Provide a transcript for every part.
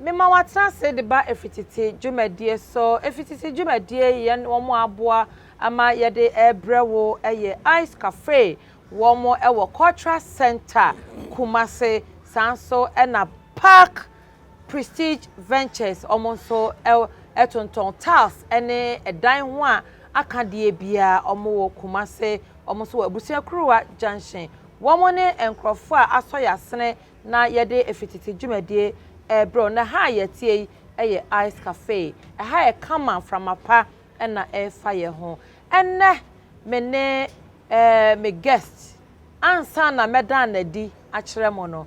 Mema wɔatena ase de ba ɛfiri tete dwumadie so. Ɛfiri tete dwumadie yɛn wɔn aboa ama yɛde ɛrebrɛ wo ɛyɛ Ice Cafe wɔn ɛwɔ Cultural Centre Kumasi saa nso ɛna Park Prestige Ventures wɔn nso tontɔn tiles ne ɛdan ho a aka deɛ biara wɔwɔ Kumase wɔn nso wɔ Abusuakuruwa junction wɔn ne nkorɔfoɔ a asɔ yasene na yɛde efititi dwumadie ɛbrɛ wɔn na ha a yɛteɛ yi yɛ ice cafe ɛha yɛ kama mframa pa na ɛfa yɛ ho ɛnɛ me ne ɛɛ me guest ansa na mɛdan na adi akyerɛ mo no.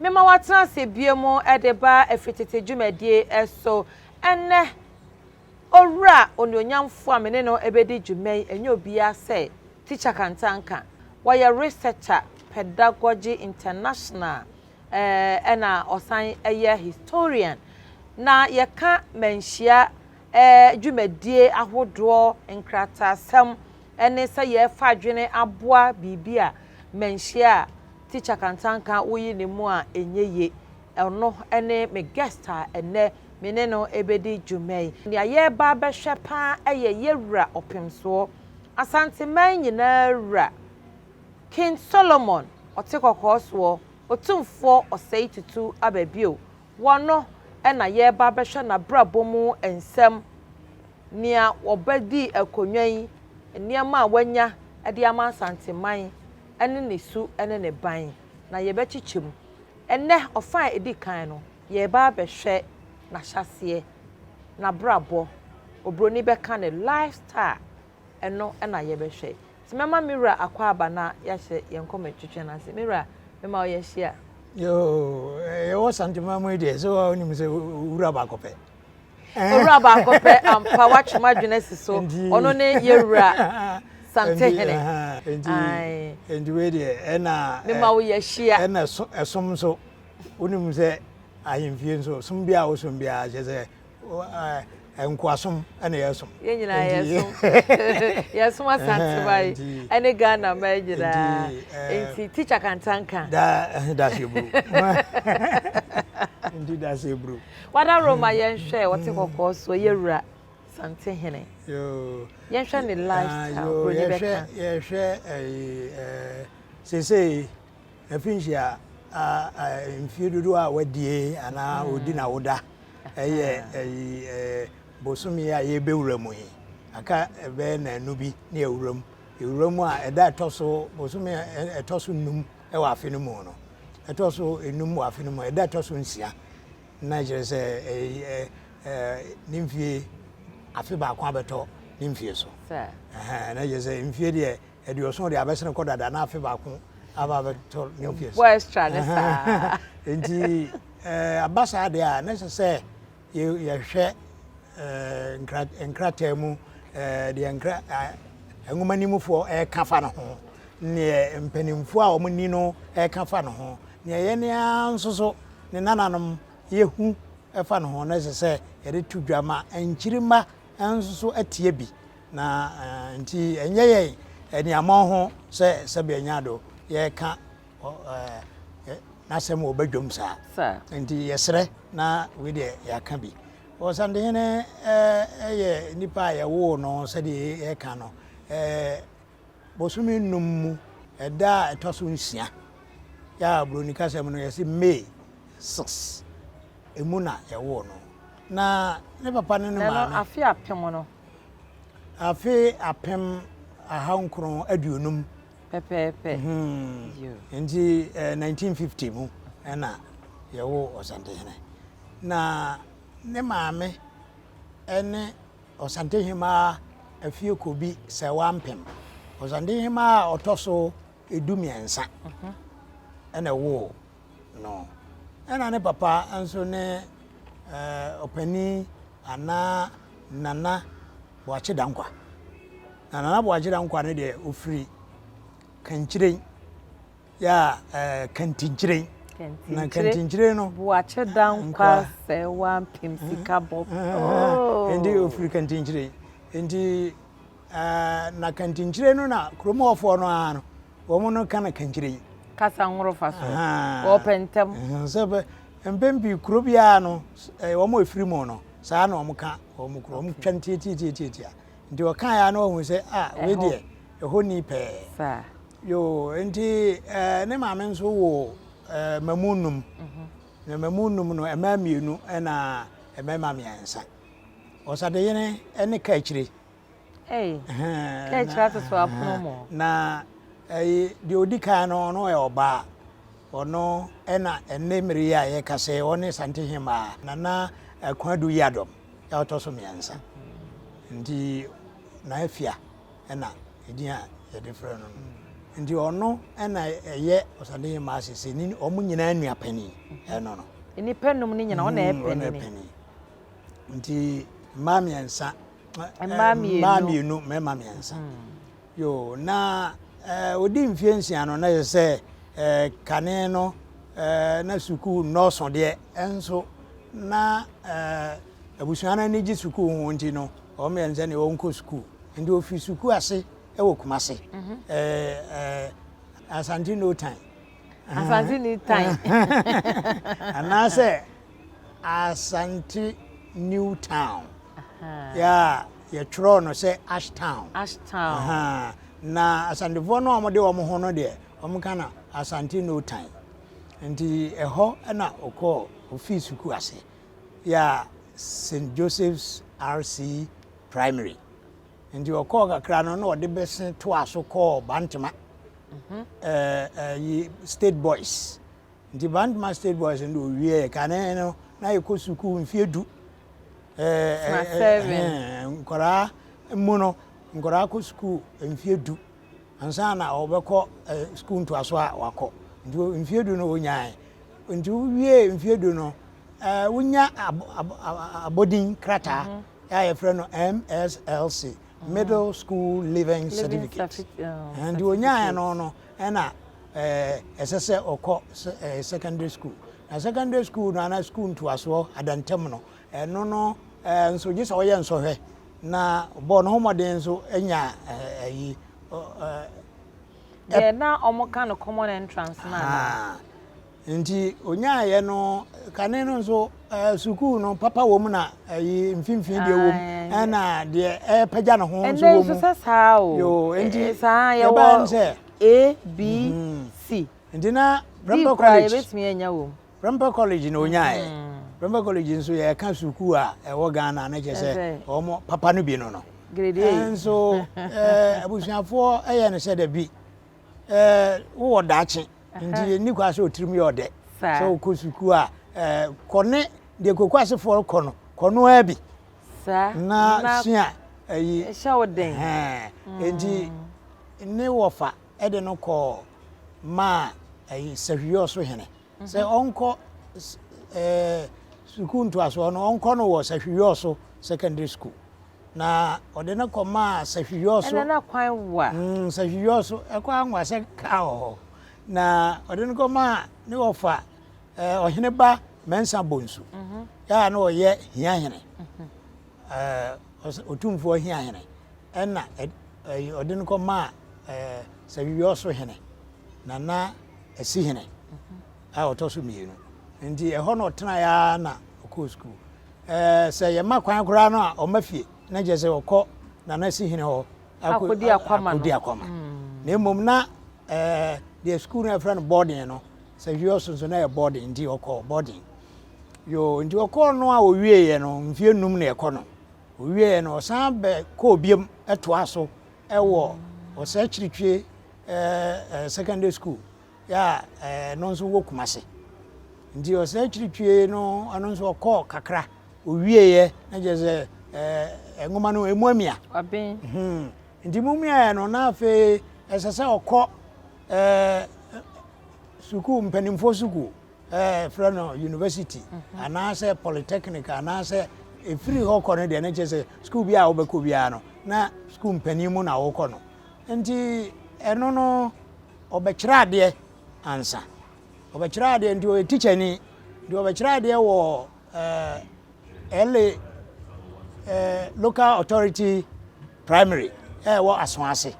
Mema wɔatena ase bio mu de ba afiritete dwumadie so. Ɛnnɛ, Owura onuonyamfoɔ a me ne no bɛdi dwuma yi nyɛ obiara sɛ Tikya Kantanka. Ɔyɛ Researcher, Pedagogy International ɛna ɔsan yɛ Historian. Na yɛka manhyia dwumadie ahodoɔ, nkrataasɛm Ɛne sɛ yɛrefa adwene aboa biribi a manhyia a Teacher Kantanka woyi ne mu a ɛnyɛ ye. Ɔno ne me guest a ɛnnɛ me ne no rebɛdi dwuma yi. Nea yɛreba abɛhwɛ pa ara yɛ Yɛwura Ɔpemsoɔ, Asanteman nyinaa wura, King Solomon, Ɔtekɔkɔɔsoɔ, Otumfoɔ Ɔsɛetutu aba bio. Wɔno na yɛreba abɛhwɛ n'abrabɔ mu nsɛm, nea ɔbɛdii akonnwa yi, nneɛma a wanya de ama Asanteman ne ne su ne ne ban, na yɛbɛkyekyɛ mu. Ɛnnɛ, ɔfã a ɛdi kan no, yɛreba abɛhwɛ n'ahyɛaseɛ, n'abrabɔ, oburoni bɛka no lifestyle, Ɛno na yɛbɛhwɛ. Nti mɛma me wura akɔ aba na yɛahyɛ yɛn nkɔm atwitwe no ase. Me wura, mema wo yɛahyia. Yoo, yɛwɔ Santemaa mu yi deɛ, sɛ woa wonim sɛ wura baako pɛ. Owura baako pɛ ampa, woatwe m'adwene asi so. Ɔno ne yɛwura Santehene. Nti wei deɛ, ɛna. Mema wo yɛahyia. Ɛna ɛsom nso, wonim sɛ ahemfie nso, som bi a wosom biara kyerɛ sɛ nkoasom na yɛsom. yɛn nyinaa yɛsom yɛsom asante ba yi ɛne ghana ma yi nyinaa nti tikya kantanka. daa daase buru nti daase buru. wada roma yɛnhwɛ wɔte kɔkɔɔ so yɛ wura sante hene yɛnhwɛ ne lifestyle buroni bɛka. yɛhwɛ ɛyi ɛɛ sese. Mfinhyia a mfie dodoɔ a wadie anaa ɔdi na woda ɛyɛ ɛyi bosome a yɛbɛwura mu yi aka ɛbɛyɛ naanu bi ne awura mu ɛwura mu a ɛda ɛtɔ so bosome ɛtɔ so num ɛwɔ afe no mu no ɛtɔ so enum wɔ afe no mu ɛda ɛtɔ so nsia na kyerɛ sɛ ne mfie afe baako abɛtɔ ne mfie so na kyerɛ sɛ mfie deɛ aduɔson deɛ abɛsene kɔ dada na afe baako aba abɛtɔ new fies bɔ extra ne saa nti eh, aba saa deɛ a na ɛsɛ sɛ yɛhwɛ eh, nkrataa mu eh, deɛ nkra nwoma no mufoɔ ɛka fa no ho neɛ mpanimfoɔ a wɔn ni no ɛka fa no ho neɛ yɛn nea nso so ne nananom yɛhu ɛfa no ho na ɛsɛ sɛ yɛde to dwa ma nkyirima nso so atie bi Na ntsi nnyɛ yɛn enuamɔn ho sɛ sɛbe enya do yɛrekã n'asɛm wɔ badwam saa. Ntsi yɛserɛ na wei deɛ yɛakã bi. Ɔsandehene yɛ nipa a yɛwoo no sɛdeɛ yɛkã no bosome nnum mu da a ɛtɔ so nsia, yɛ a Buroni kasa mu no yɛse May six, emu na yɛwoo no. Na ne papa ne ne maame. Na no afe apem no. Afe apem ahankron aduonum. Pɛpɛɛpɛ. Mm-hmm. Nti eh, 1950 mu ɛna yɛwo Ɔsantehene. Na ne maame ɛne Ɔsantehemaa Afiekobi Sɛwampem. Ɔsantehemaa a ɔtɔ so edu mmiɛnsa ɛna mhm. ɛwoo no. Ɛna ne papa nso ne ɔpanin anaa Nana Boakye Dankwa. Na Nana Boakye Dankwa no deɛ ɔfiri Kankyire yɛ Kantinkyire na kantinkyire no buakye dankwa sɛ wampem sika bɔ nti ofiri kantinkyire nti Ɛɛ, na kantinkyire no na kurom hɔfoɔ no ara no, wɔn no ka no kankyire yi. Kasa nworofa so. Wɔpɛ ntɛm. Sɛ bɛ, mpɛn pii kuro biara no, eh, wɔn a ɛfiri mu no, saa na wɔn ka wɔn kuro. Wɔn twa ntiatiatiatiatia. Nti wɔka ya na wɔhu sɛ, ah, wei deɛ, ɛhɔ ni pɛɛ. Saa. Yoo, nti eh, ne maame nso wo eh, mmamu nnum. Mhm. Na mmamu nnum no, mmaa mmienu na mmarima mmiɛnsa. Ɔsadeyene ne ka akyire. Na deɛ ɔdi kan no ɔno yɛ ɔbaa ɔno ɛna ɛnɛ mmere yi a yɛkasa yi ɔne Asante Hemaa Nana Akua Ado Yiadom ɔtɔ so mmiɛnsa nti na afia ɛna ɛdin a yɛde frɛ no no nti ɔno ɛna ɛyɛ Asante Hemaa sese ne wɔn nyinaa nua panin ɛno no nnipa num ne nyinaa ɔna ɛyɛ panin nti mmaa mmiɛnsa mmaa mmienu mmarima mmiɛnsa hmm. yo na ɔdi eh, mfeɛ nsia no na yɛ sɛ eh, kane no eh, na sukuu nnɔɔso deɛ ɛnso na abusua no ani gye sukuu ho nti no wɔn yɛn sɛ ne wɔnkɔ sukuu nti ofiri sukuu ase wɔ kumase mhm. asante no time Asante ni tan. Anaasɛ Asante New Town. Yeah, yɛtwerɛɔ no sɛ Ash Town. Ash Town. Na Asantefoɔ no a wɔde wɔn ho no deɛ, wɔka no Asante New Town. Nti ɛhɔ na ɔkɔɔ ofii sukuu ase. Yeah, St. Joseph's RC Primary. Nti ɔkɔɔ kakra no na ɔde bese toaa so kɔɔ Bantama mhm. ɛyi State Boys nti Bantama State Boys no owieɛ kane no na yɛkɔ sukuu mfeɛ du nkwadaa mu no nkwadaa kɔ sukuu mfeɛ du ansa na ɔbɛkɔ sukuu ntoaso a wakɔ nti mfeɛ du no ɔnyae nti wowie mfeɛ du no wonya abɔdin krataa mhm. a yɛfrɛ no MSLC, Middle School Leaving Certificate, nti ɔnyaeɛ no no ɛna ɛsɛ sɛ ɔkɔ secondary school na secondary school no ana school ntoasoɔ adantam no ɛno no nso gye sɛ ɔyɛ nsɔhwɛ na bɔɔ no ho mmɔden nso nya ayi deɛ na wɔka no common entrance no anaa Nti ɔnyaaeɛ no kane no nso sukuu no papa wɔ mu na ayi mfimfini deɛ wɔ mu ɛna deɛ ɛpagya ne ho nso wɔ mu. Ɛnɛ sɛ saa o. Yo nti saa yɛwɔ sɛ A B mhm. C. Nti na Prempeh College. Yɛbɛtumi anya wɔ mu. Prempeh College na ɔnyaaeɛ. Mhm. Prempeh College nso yɛka sukuu a ɛwɔ Ghana na kyɛ sɛ wɔn papa no bi no no. Grade A. Nso abusuafoɔ yɛ no sɛ dabi wowɔ daakye. Nti ɛnni kwan sɛ ɔtirim yɛ ɔdɛ. Sɛ wokɔ sukuu a, kɔ ne deɛ kokoasefoɔ rekɔ no, kɔ no ara bi na sua ayi. Ɛhyɛ wo den. Nti ne wɔfa de no kɔɔ maa Sahwiyɔ so hene sɛ ɔnkɔ sukuu ntoasoɔ no, ɔnkɔ no wɔ Sahwiyɔ so secondary school. na ɔde no kɔmaa sahwiyɔ so. Ɛna na kwan wɔ a. Mm, sahwiyɔ so ɛkɔ anwa sɛ kaa wɔ hɔ. Na ɔde no kɔmaa ne wɔfa eh, ɔhene ba Mɛnsa Bonsu. Mm -hmm. Yɛ a na ɔyɛ hiahene. Mm -hmm. eh, ɔtumfoɔ hiahene. Ɛna ɔde eh, no kɔmaa eh, sahwiyɔ so hene. Nana Asihene. Mm -hmm. a ɔtɔ so mmienu nti ɛhɔ na ɔtenaeɛ ara na ɔkɔɔ sukuu ɛɛ sɛ yɛma kwan koraa no a ɔma fie na kyerɛ sɛ ɔkɔ nana si hene hɔ akɔdi akwama akɔdi akwama na mmom na ɛɛ deɛ sukuu no ɛfrɛ no boarding no sɛ hwie ɔso nso na yɛ boarding nti ɔkɔ boarding yoo nti ɔkɔɔ no a ɔwieeɛ no mfie num na ɛkɔ no ɔwieeɛ no ɔsan bɛ kɔɔ biam ɛtoa so ɛwɔ ɔsɛ akyirikyie ɛɛ secondary school yɛ a ɛno nso wɔ Kumase. Nti ɔsan akyiri twie no ɛno nso ɔkɔɔ kakra owieɛ na kyerɛ sɛ ɛɛ nwoma no ɛmu amia. Aben. Hmm. Nti mu miaeɛ no na afei ɛsɛ sɛ ɔkɔ ɛɛ sukuu mpanimfoɔ sukuu ɛɛ frɛ no university mhm. anaasɛ polytechnic anaasɛ ɛfiri hɔ kɔ no deɛ ne kyerɛ sɛ sukuu bi a wobɛkɔ biara no na sukuu mpanin mu na wokɔ no nti ɛno no Ɔbɛkyerɛ adeɛ ansa. Ɔbɛkyerɛ adeɛ nti ɔyɛ tikyani. Deɛ ɔbɛkyerɛ adeɛ wɔ ɛɛ LA ɛɛ local authority primary ɛwɔ Asoase.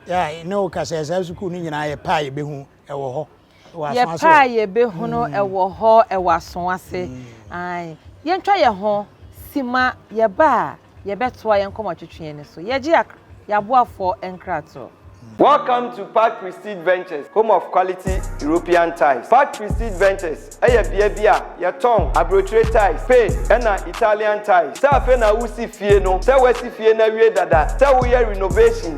Yɛ ne wo kasɛ saa sukuu no nyinaa yɛ paa yɛbɛhu ɛwɔ hɔ. Yɛpɛ a yɛbɛhunu ɛwɔ hɔ ɛwɔ aso ase. Ae. Yɛntwa yɛn ho si ma yɛba a, yɛbɛtoa yɛn nkɔmmɔtwetweɛ no so. Yɛgye ak yɛaboafoɔ nkratoɔ. Welcome to Park Prestige Ventures, home of quality European tiles. Park Prestige Ventures yɛ bea bi a yɛtɔn aburokyire tiles, Spain na Italian tiles. Sɛ afei na woresi fie no, sɛ woasi fie no awie dada, sɛ woyɛ renovation,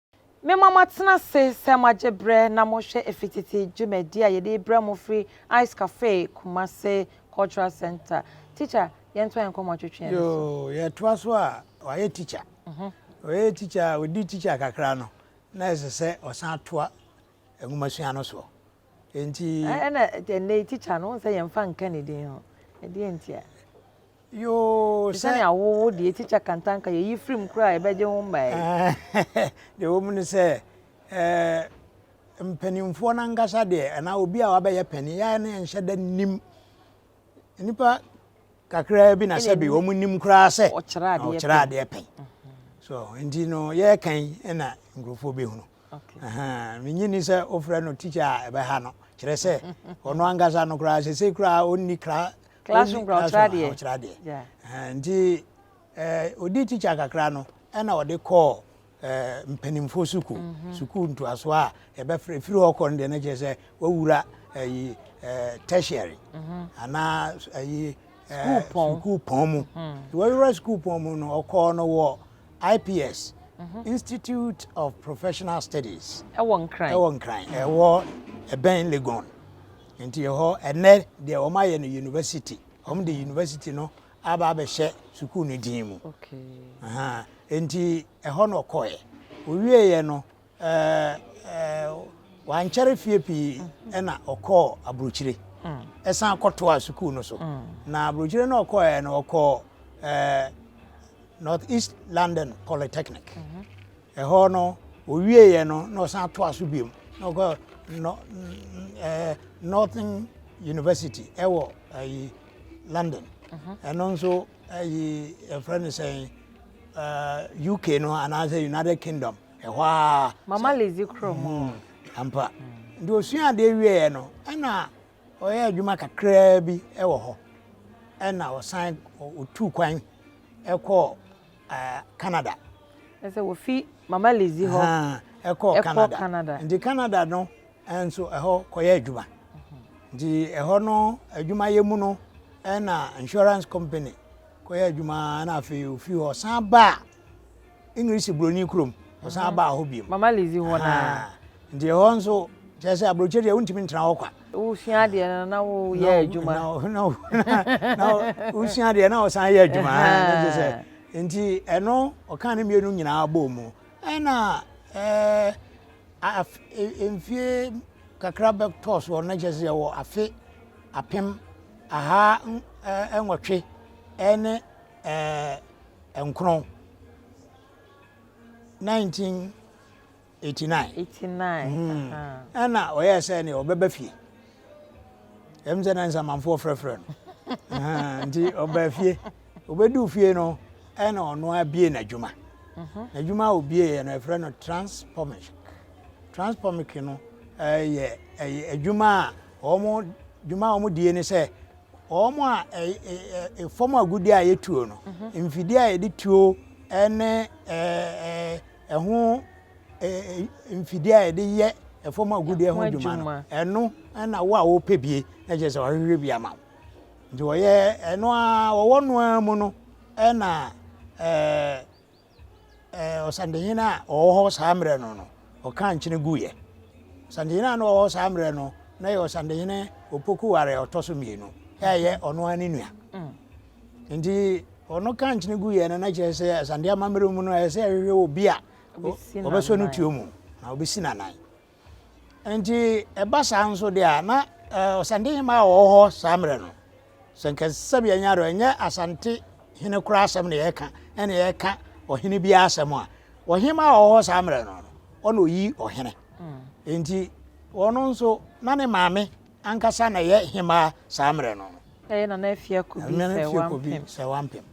Mema moatena ase sɛ moagye berɛ na morehwɛ ɛfiri tete dwumadie a yɛde rebrɛ mo firi Ice Cafe Kumasi Cultural Centre. Teacher, yɛntoa yɛn nkɔmmɔ atwetweɛ no so. Yoo, yɛtoa so a, wayɛ teacher. Ɔyɛ teacher a, ɔdi teacher kakra no, na ɛsɛ sɛ ɔsan toa nwomasua no soɔ. Enti. Ɛna ɛnɛ yi tikya no, sɛ yɛn fa nka ne din ho. Ɛdeɛ nti a. Yoo sɛ. Sani awowo deɛ tikya kantanka yɛ yi firim kura a ɛbɛgye ho mmaa yi. Deɛ wɔn mu no sɛ ɛɛ mpanimfoɔ nankasa deɛ ɛna obi a wabɛyɛ panin yɛn ne nhyɛ da nim. nnipa kakraa bi na sɛbi wɔn nim koraa sɛ ɔkyerɛ adeɛ pɛn so nti no yɛreka yi na nkurɔfoɔ bɛhunu menyini sɛ wofrɛ no tikya a ɛbɛha no kyerɛ sɛ ɔno ankasa no koraa sɛ sɛ koraa ɔnni kra classroom koraa ɔkyerɛ adeɛ ɔkyerɛ adeɛ nti ɔdi tikya kakra no ɛna ɔde kɔɔ eh, mpanimfoɔ sukuu, mhm. sukuu ntoasoɔ a yɛbɛfrɛ ɛfiri hɔ kɔ no deɛ na kyerɛ sɛ wawura ayi eh, eh, tertiary mhm. anaa ayi sukuu pɔn mu mhm. wawura sukuu pɔn mu no ɔkɔɔ no wɔ ips institute of professional studies ɛwɔ nkran ɛwɔ nkran ɛwɔ ɛbɛn legon nti ɛhɔ ɛnɛ deɛ wɔn ayɛ no university wɔn de university no aba abɛhyɛ sukuu no din mu. Enti ɛhɔ na ɔkɔeɛ. Ɔwieeɛ no, wankyɛre fie pii mm-hmm. na ɔkɔɔ aburokyire. Mm. Ɛsan kɔtoaa sukuu no so. Mm. Na aburokyire no ɔkɔeɛ no ɔkɔɔ North East London Polytechnic. Mm-hmm. Ɛhɔ no, ɔwieeɛ no na ɔsan toa so biom na ɔkɔ nɔ ɛɛ Northern University ɛwɔ ɛyi London. Mhm. Ɛno nso ɛyi ɛfrɛ no sɛn ɛɛ UK no anaasɛ United Kingdom ɛhɔ a. Mama Lizzie kuro mu. Hmm, ampa. Nti osua adeɛ wieeɛ no ɛna ɔyɛ adwuma kakraa bi ɛwɔ hɔ ɛna ɔsan ɔtu kwan ɛkɔɔ. Canada. Kyerɛ sɛ wɔfi Mama Lizzie hɔ kɔ Canada. Nti Canada no nso ɛhɔ kɔyɛ adwuma. Nti ɛhɔ no adwumayɛ mu no ɛna insurance company kɔyɛ adwuma na afei ofi hɔ san baa English Buroni kurom ɔsan baa hɔ bio. Mama Lizzie hɔ naa. Nti ɛhɔ nso kyerɛ sɛ aburokyire deɛ wontumi ntena hɔ kwa. Wosua adeɛ no na woyɛ adwuma. Na wosua adeɛ na wosan yɛ adwuma ne gye sɛ nti ɛno ɔka ne mmienu nyinaa bɔɔ mu ɛna ɛɛ mfie kakra bɛtɔɔ soɔ no na kyerɛ sɛ yɛwɔ afe apem aha nwɔtwe ɛne ɛɛ nkron 19 Eighty nine. Eighty nine. Hmm. Ɛna ɔyɛ sɛ ne ɔbɛba fie. Ɛm sɛ na nsamanfoɔ frɛfrɛ no. Nti ɔbaa fie. Ɔbɛduu fie no ɛna ɔno abie n'adwuma. Mhm. N'adwuma a ɔbieeɛ no ɛfrɛ no transpomic. Transpomic no ɛyɛ ɛyɛ adwuma a wɔn dwuma a wɔn die ne sɛ wɔn a ɛyɛ fam agudeɛ a yɛtuo no mhm. mfidie a yɛde tuo ɛne ɛɛ. Ɛho mfidie a yɛde yɛ ɛfam agudeɛ ho adwuma no ɛno na wo a wopɛ bie na kyerɛ sɛ wɔahwehwɛ bi ama wo nti wɔyɛ ɛno a wɔwɔ no ara mu no ɛna ɛɛ ɛɛ ɔsantehene a ɔwɔ hɔ saa mmerɛ no no ɔka nkyene guiɛ ɔsantehene a na ɔwɔ hɔ saa mmerɛ no na yɛ ɔsantehene opoku ware ɔtɔ so mmienu ɛyɛ ɔno ara ne nua mm. Nti ɔno ka nkyene gu yɛ no na kyerɛ sɛ asante amammerɛ mu no ɛyɛ sɛ ɛhwehwɛ obi a ɔbɛsɔ no tuo mu na ɔbɛsi n'anan nti ɛba saa nso deɛ a na ɔsante hema a ɔwɔ hɔ saa mmerɛ no sɛ nka sɛbi ɛnyɛ do ɛnyɛ asante hene koraa asɛm na yɛka ɛna yɛka ɔhene bi asɛm a ɔhema a ɔwɔ hɔ saa mmerɛ no ɔna ɔyi ɔhene nti ɔno nso na ne maame Ankasa na ɛyɛ hemmaa saa mmerɛ no. Ɛyɛ Nana Afiakobi Sɛwampem. Sɛwampem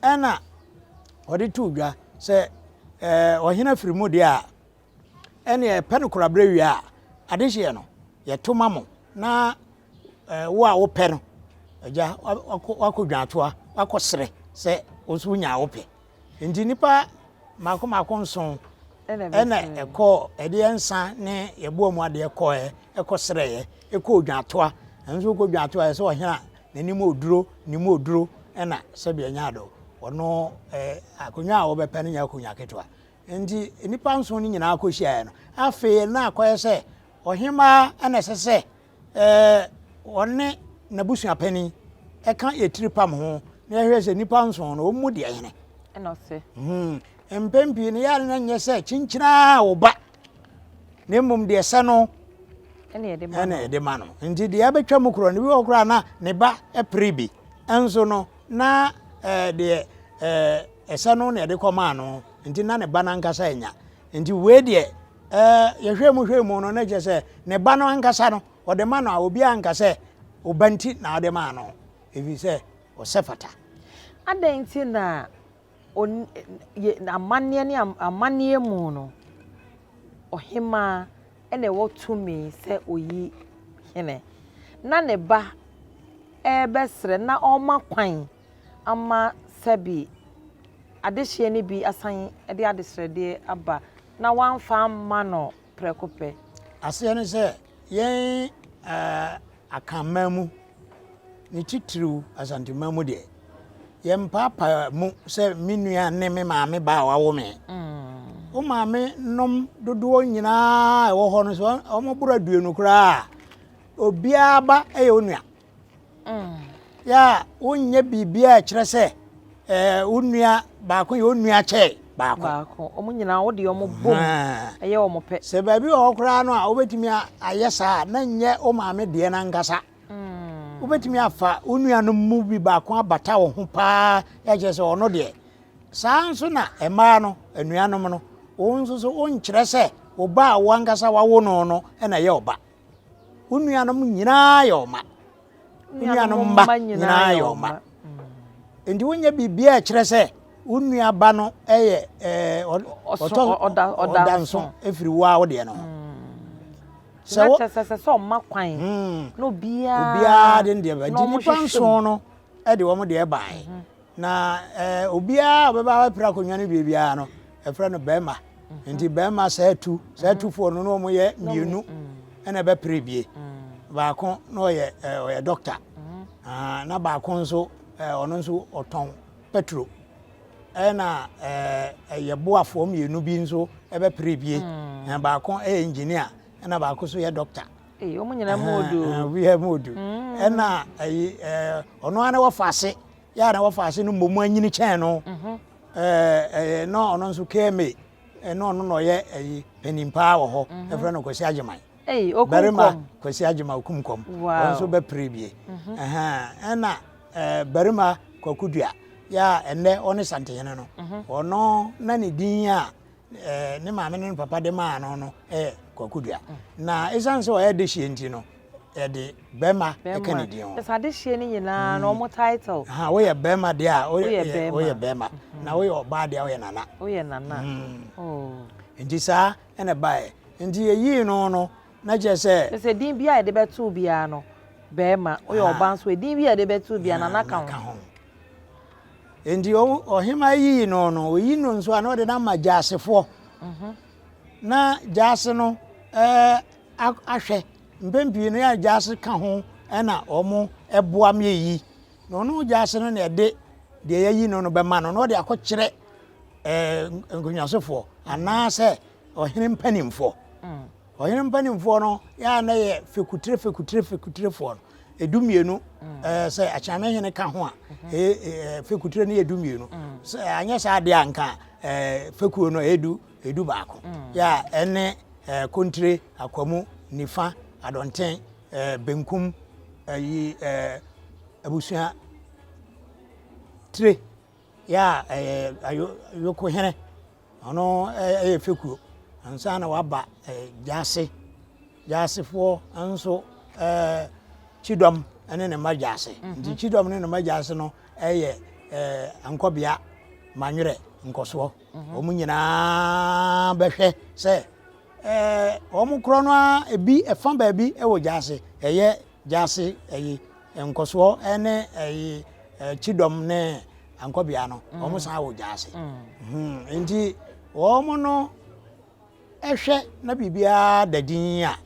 ɛna ɔde too dwa sɛ ɛɛ ɔhene afiri mu deɛ a ɛneɛ pɛ no koraberɛ wie a adehyeɛ no yɛto ma mo na ɛɛ wo a wopɛ no agya wakɔ dwantoa wakɔ serɛ sɛ wo nso wonya a wopɛ Enti nnipa mmaako mmaako nson na ɛkɔɔ ɛdeɛ nsa ne yɛboa mu adeɛ kɔɛ ɛkɔ serɛɛ ɛkɔ odwantoa ɛno nso kɔ odwantoa ɛsɛ ɔhena n'anim oduro ne mu oduro ɛna sɛbi ɛnya ado ɔno ɛɛ akonnwa a wɔbɛpɛ no nyɛ akonnwa ketewa nti nnipa nson no nyinaa kɔ hyiaɛ no afei na akɔyɛ sɛ ɔhemaa ɛna ɛsɛ sɛ wɔne n'abusuapanin ka etiripam ho na yɛhwɛ sɛ nnipa nson no wɔn mu deɛ hene ɛna ɔsɛ hmm. mpɛn pii no yɛa no nyɛ sɛ kyinkyiraa wo ba na mmom deɛ sɛ no ɛna ɛde ma no nti deɛ ɛbɛtwa mu korɔ no bi wɔ koraa na ne ba pere bi nso no na deɛ ɛsɛ no na ɛde kɔmaa no nti na ne ba no ankasa anya nti wei deɛ Ɛɛ, yɛhwɛɛ mu hwɛɛ mu no, na kyerɛ sɛ ne ba no ankasa no, ɔde ma no a, obiara anka sɛ wo ba nti na wode maa no, ɛfiri sɛ ɔsɛ fata. Adɛn nti na amanneɛ ne amanneɛ mu no, ɔhemmaa na ɛwɔ tumi sɛ ɔyi hene, na ne ba rebɛsrɛ na ɔrema kwan ama sɛbe adehyeɛ no bi asan de adesrɛdeɛ aba na wɔamfa amma no prɛko pɛ. Aseɛ ne sɛ, yɛn Akanman mu, ne titiriw Asanteman mu deɛ, yɛmpaapae mu sɛ me nua ne me maame ba a wawo me. Mm. Wo maame nom dodoɔ nyinaa ɛwɔ hɔ no so, wɔn boro aduonu koraa, obiara ba yɛ onua. yɛ a wonyɛ biribiara a ɛkyerɛ sɛ ɛɛ wo nua baako yɛ wo nua kyɛ baako. baako wɔn nyinaa wɔde wɔn bom ɛyɛ wɔn pɛ. sɛ baabi wɔ hɔ koraa no a wobɛtumi ayɛ saa na nyɛ wo maame deɛ no ankasa hmm. wobɛtumi afa wo nuanom mu bi baako abata wo ho paa ɛkyerɛ sɛ ɔno deɛ saa nso na mmaa no anuanom no wo nso so wonkyerɛ sɛ ɔba a wo ankasa wawo no no ɛna yɛ ɔba Wo nuanom nyinaa yɛ ɔma. Wo nuanom mma nyinaa yɛ ɔma. Nti wonyɛ biribiara a ɛkyerɛ sɛ wo nuaba no yɛ ɔda nso ɛfiri wo a wo deɛ no ho. Sɛ wo sɛ sɛ ɔma kwan na obiara de deɛ bɛgye nipa nson no de wɔn deɛ baeɛ. Na obiara a ɔbɛba abɛpere akonnwa no wie biara no, ɛfrɛ no bɛrima. Mhm. Nti bɛrima saa atu, saa mhm. atufoɔ no na wɔn yɛ mmienu ɛna ɛbɛpere bie. Mm. Baako na ɔyɛ ɔyɛ dɔkta. Mhm. Ah, na baako nso ɔno nso ɔtɔn petro. Ɛna ɛyɛ boafoɔ mmienu bi nso ɛbɛpere bie. Mm. Baako ɛyɛ engineer ɛna baako nso yɛ dɔkta. Ei wɔn nyinaa mu odu o. Ɛhɛn, obiara mu odu. Ɛna ayi ɛɛ ɔno ara ne wɔfa ase yɛ a na wɔfa ase no mmom anyini kyɛn no. Ɛɛ ɛyɛ na ɔno nso KMA ɛna ɔno na ɔyɛ ayi panin paa wɔ hɔ. Ɛfrɛ no Kwasi Agyeman. Ei okum Barima kɔm. Kwasi Agyeman okum kɔm. Ɔno Wow. nso bɛpere bie. Ɛhɛn, ɛna ɛɛ barima Kwaku Dua yɛ a ɛnnɛ ɔne Santehene no. Ɔno na ne din a eh, ne maame ne ne papa de maa no no yɛ kwakudua na ɛsiane sɛ ɔyɛ dehyeɛ nti no yɛde bɛrima ɛka ne din ho ɛsɛ adehyeɛ no nyinaa na ɔmo title ha woyɛ bɛrima deɛ a woyɛ bɛrima na woyɛ ɔbaa deɛ a woyɛ nana woyɛ nana hmm. oh. nti saa ɛna baeɛ nti yɛyii no no na kyerɛ sɛ ɛsɛ din bi a yɛde bɛtoo biara no bɛrima woyɛ ɔbaa nso din bi a yɛde bɛtoo biara nana ka ho Enti ɔhemaa yiyi no no, oyi no nso a na ɔde no ama gyasefoɔ. Mhm. Na gyase no ahwɛ mpɛn pii no yɛ gyase ka ho na wɔn boa me yi. Na ɔno gyase no na ɛde deɛ yɛyi no no bɛma no na ɔde akɔkyerɛ nkonnwasofoɔ anaasɛ ɔhene mpanimfoɔ. Mm. Ɔhene mpanimfoɔ no yɛ a na yɛ fekutire fekutire fekutirefoɔ no edu mmienu ɛɛ eh, sɛ akyiname hene ka ho a mhm. ɛyɛ eh, fekutire no yɛ du mmienu mhm. sɛ anyɛ saa adeɛ a nka ɛɛ eh, fekuo no ɛyɛ du edu baako mhm. yɛ a ɛne ɛɛ kontire akwamu nifa adɔnten ɛɛ benkum ɛyi ɛɛ abusua tire. Yɛ a ɛyɛ ayo Ayokohene, ɔno yɛ fekuo ansa na waba Gyase. Gyasefoɔ nso Kyidɔm ne ne mma Gyase. Mhm. Nti Kyidɔm ne ne mma Gyase no yɛ ankɔbea Manywerɛ nkɔsoɔ. Mhm. Wɔn nyinaa bɛhwɛ sɛ wɔn korɔ no ara ebi ɛfa baabi wɔ Gyase. Ɛyɛ Gyasi ɛyi nkɔsoɔ ɛne ɛyi kyidɔm ne ankɔbea no mm. wɔn san wɔ gyasi mm. hmm. nti wɔn no ɛhwɛ na biribiara da din a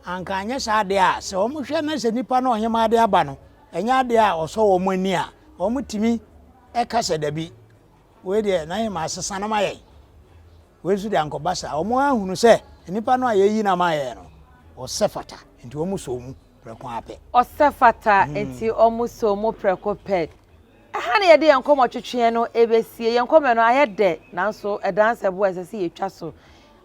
anka anyɛ saa adeɛ a sɛ wɔn hwɛ na sɛ nipa no ɔnyɛma adeɛ aba no ɛnyɛ adeɛ a ɔsɔ wɔn ani a wɔn tumi ɛka sɛ dabi wei deɛ na yɛ ma asesa no ma yɛn. Wei nso de ankɔba saa. Wɔahunu sɛ nnipa no a yɛayi no ama ayɛ no, ɔsɛ fata, enti wɔsɔɔ mu prɛko ara pɛ. Ɔsɛ fata, enti wɔsɔɔ mu prɛko pɛ. Ɛha na yɛde yɛn nkɔmmɔ twetweɛ no bɛsie. Yɛn nkɔmmɔ no ayɛ dɛ, nanso ɛdanse bo a ɛsɛ sɛ yɛtwa so.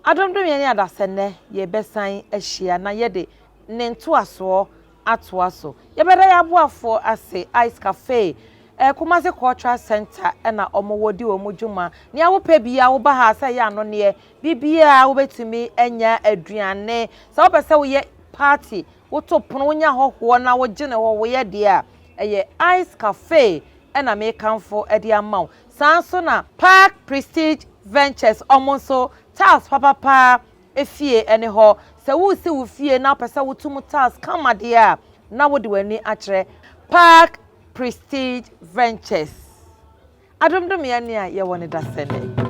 Adomdom yɛn adasɛ nnɛ, yɛbɛsan ahyia na yɛde ne ntoasoɔ atoa so. Yɛbɛda yɛn aboafoɔ ase, Ice Cafe, eh, Kumasi Cultural Centre ɛna wɔn wɔ di wɔn dwuma. Nea wopɛ biara woba ha sɛ ɛyɛ anonneɛ, biribiara wobɛtumi anya aduane. Sɛ wopɛ sɛ woyɛ party, woto pono, wonya ahɔhoɔ na wogye ne hɔhoeɛ deɛ a, ɛyɛ Ice Cafe ɛna mekamfo de ama wo. Saa nso na Park Prestige Ventures wɔn nso, tiles papapaa, Efie ne hɔ. Sɛ woresi wo fie na wopɛ sɛ woto mu tiles kama deɛ a, na wode w'ani akyerɛ Park Prestige Ventures. Adom Domea ni a yɛwɔ no da sɛ nnɛ.